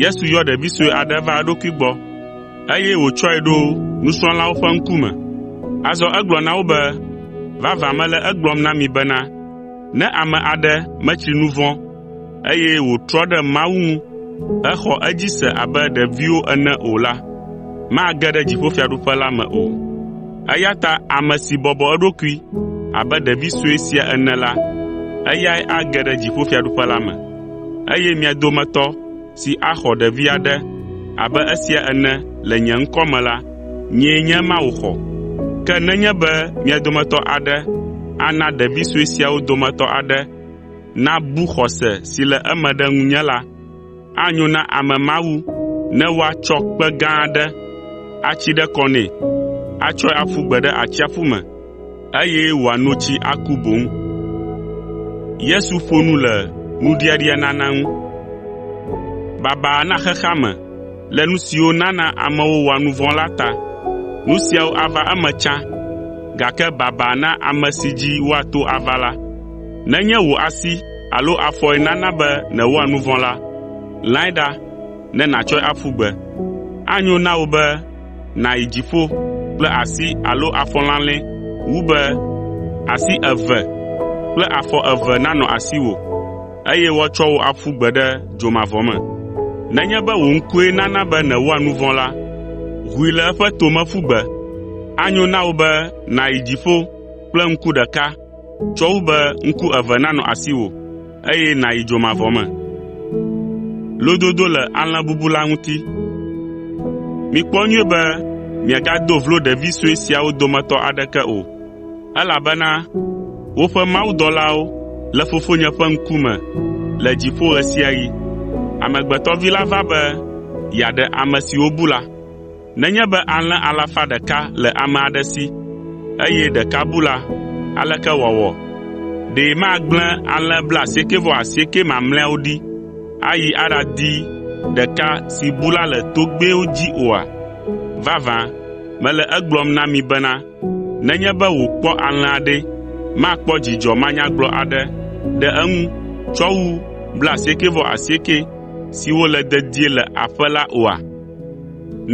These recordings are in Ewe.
Yesu yɔ ɖevi sue aɖe va eɖokui gbɔ, eye wòtsɔe ɖo nusrɔ̃lawo ƒe ŋkume. Azɔ egblɔ na wo be, “Vavã mele egblɔm na mi bena, ne ame aɖe metsri nu vɔ̃, eye wòtrɔ ɖe Mawu ŋu hexɔ edzi se abe ɖeviwo ene o la, mage ɖe dziƒofiaɖuƒe la me o. Eya ta ame si bɔbɔ eɖokui abe ɖevi sue sia ene la, eyae age ɖe dziƒofiaɖuƒe la me.” eye mia dometɔ si axɔ ɖevi aɖe abe esia ene le nye ŋkɔ me la, nyee nye ema wòxɔ. Ke nenye be mia dometɔ aɖe ana ɖevi sue siawo dometɔ aɖe nabu xɔse si le eme ɖe ŋunye la, anyo na ame ma wu ne woatsɔ kpe gã aɖe atsi ɖe kɔ nɛ, atsɔe aƒu gbe ɖe atsiaƒu me. eye wòano tsi aku boŋ. Yesu ƒo nu le nuɖiaɖianana ŋu. Baba na xexea me le nu siwo nana amewo wɔa nu vɔ̃ la ta. Nu siawo ava eme tsã, gake baba na ame si dzi woato ava la. Nenye wò asi alo afɔe nana be nèwɔa nu vɔ̃ la, lãe ɖa ne nàtsɔe aƒu gbe. Anyo na wò be nàyi dziƒo kple asi alo afɔ lalɛ̃ wu be asi eve kple afɔ eve nanɔ asiwò, eye woatsɔ wò aƒu gbe ɖe dzomavɔ me. Nenye be wò ŋkue nana be nèwɔa nu vɔ̃ la, ʋui le eƒe tome ƒu gbe. Anyo na wò be nàyi dziƒo kple ŋku ɖeka Tsɔ wu be ŋku eve nanɔ asiwò, eye nàyi dzomavɔ me. Mikpɔ nyuie be miagado vlo ɖevi sue siawo dometɔ aɖeke o, elabena woƒe mawudɔlawo le Fofonye ƒe ŋkume le dziƒo ɣe sia ɣi. Amegbetɔ Vi la va be yeaɖe ame siwo bu la.” Nenye be alẽ alafa ɖeka le ame aɖe si, eye ɖeka bu la, aleke wòawɔ? Ɖe magblẽ alẽ blaasiekɛ-vɔ-asiekɛ mamlɛawo ɖi ayi aɖadi ɖeka si bu la le togbɛwo dzi oa? Vavã, mele egblɔm na mi bena, nenye be wòkpɔ alẽa ɖe, makpɔ dzidzɔ manyagblɔ aɖe ɖe eŋu tsɔ wu blaasiekɛ-vɔ-asiekɛ siwo le dedie le aƒe la oa?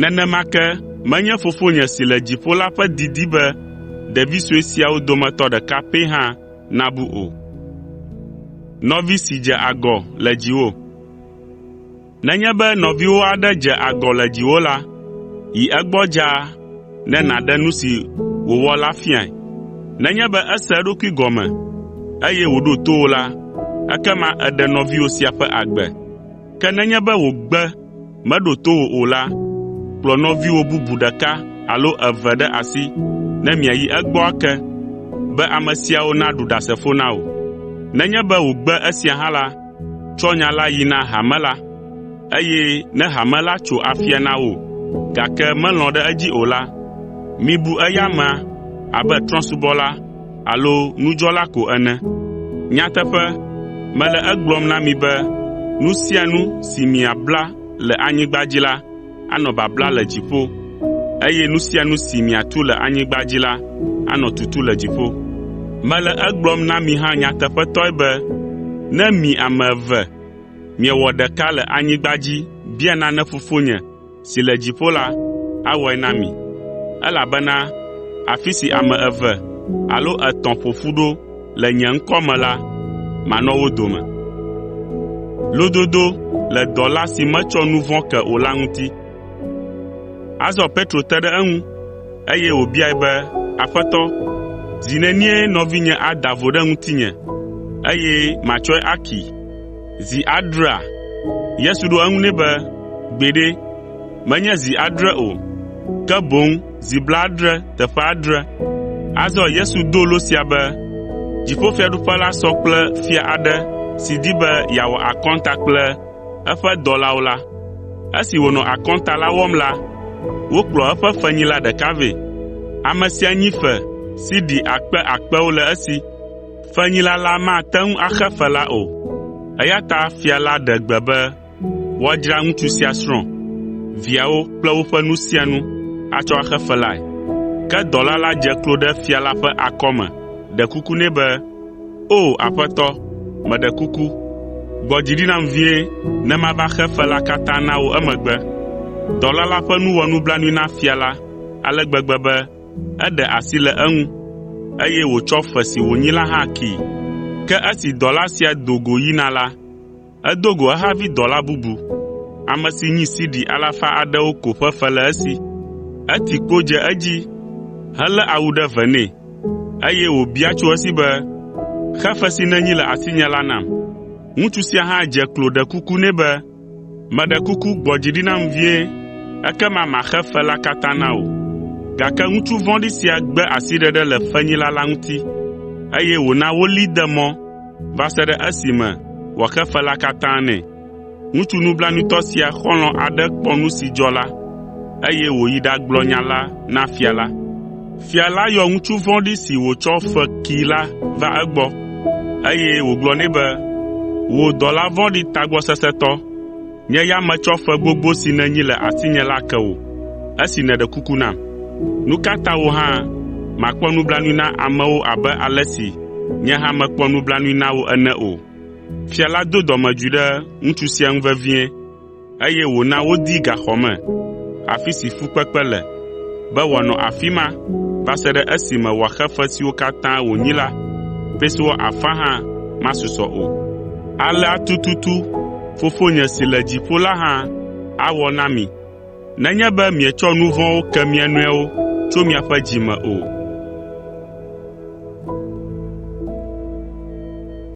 Nenema ke menye Fofonye si le dziƒo la ƒe didi be ɖevi sue siawo dometɔ ɖeka pɛ hã nabu o. “Nenye be nɔviwò aɖe dze agɔ le dziwò la, yi egbɔ dzaa ne nàɖe nu si wòwɔ la fiae. Nenye be ese eɖokui gɔme, eye wòɖo to wò la, ekema èɖe nɔviwò sia ƒe agbe. Ke nenye be wògbe meɖo to wò o la, kplɔ nɔviwò bubu ɖeka alo eve ɖe asi ne miayi egbɔ ake, be ame siawo naɖu ɖasefo na wò. Nenye be wògbe esia hã la, tsɔ nya la yi na hame la, eye ne hame la tso afia na wò, gake melɔ̃ ɖe edzi o la, mibu eya amea abe trɔ̃subɔla alo nudzɔla ko ene. Nyateƒe, mele egblɔm na mi be nu sia nu si miabla le anyigba dzi la, anɔ babla le dziƒo, eye nu sia nu si miatu le anyigba dzi la, anɔ tutu le dziƒo. Mele egblɔm na mi hã nyateƒetɔe be ne mi ame eve miewɔ ɖeka le anyigba dzi bia nane Fofonye si le dziƒo la awɔe na mi, elabena afi si ame eve alo etɔ̃ ƒo ƒu ɖo le nye ŋkɔ me la, manɔ wo dome.” Azɔ Petro te ɖe eŋu, eye wòbiae be, “Aƒetɔ, zi nenie nɔvinye ada vo ɖe ŋutinye, eye matsɔe akee?” Zi adrea?” Yesu ɖo eŋu nɛ be, “Gbeɖe, menye zi adre o, ke boŋ zi blaadre teƒe adre.” Azɔ Yesu do lo sia be, “Dziƒofiaɖuƒe la sɔ kple fia aɖe si di be yeawɔ akɔnta kple eƒe dɔlawo la. Esi wònɔ akɔnta la wɔm la, wokplɔ eƒe fenyila ɖeka vɛ. Ame sia nyi fe sidi akpe akpewo le esi. Fenyila la mate ŋu axe fe la o, eya ta fia la ɖe gbe be woadzra ŋutsu sia srɔ̃, viawo kple woƒe nu sia nu atsɔ axe fe lae. Ke dɔla la dze klo ɖe fia la ƒe akɔme ɖe kuku nɛ be, “O, aƒetɔ, meɖe kuku, gbɔ dzi ɖi nam vie ne mava xe fe la katã na wò emegbe.” Dɔla la ƒe nu wɔ nublanui na fia la ale gbegbe be Eɖe asi le eŋu, eye wòtsɔ fe si wònyi la hã kee. Ke esi dɔla sia do go yina la, edo go ehavi dɔla bubu, ame si nyi sidi alafa aɖewo ko ƒe fe le esi. Eti kpo dze edzi helé awu ɖe ve nɛ, eye wòbia tso esi be, “Xe fe si nènyi le asinye la nam.” Ŋutsu sia hã dze klo ɖe kuku nɛ be, “Meɖe kuku gbɔ dzi ɖi nam vie, ekema maxe fe la katã na wò.” Gake ŋutsu vɔ̃ɖi sia gbe asiɖeɖe le fenyila la ŋuti, eye wòna wolée de mɔ va se ɖe esime wòaxe fe la katã nɛ. Ŋutsu nublanuitɔ sia xɔlɔ̃ aɖe kpɔ nu si dzɔ la, eye wòyi ɖagblɔ nya la na fia la. Fia la yɔ ŋutsu vɔ̃ɖi si wòtsɔ fe kee la va egbɔ, eye wògblɔ nɛ be, ‘Wò dɔla vɔ̃ɖi tagbɔsesẽtɔ! Nye ya metsɔ fe gbogbo si nènyi le asinye la ke wò, esi nèɖe kuku nam. Nu ka ta wò hã màkpɔ nublanui na amewo abe ale si nye hã mekpɔ nublanui na wò ene o?’ Fia la do dɔmedzoe ɖe ŋutsu sia ŋu vevie. eye wòna wodee gaxɔ me, afi si fukpekpe le, be wòanɔ afi ma va se ɖe esime wòaxe fe siwo katã wònyi la, pesewa afã hã masusɔ o. Alea tututu Fofonye si le dziƒo la hã awɔ na mi nenye be mietsɔ nu vɔ̃wo ke mia nɔewo tso miaƒe dzi me o.”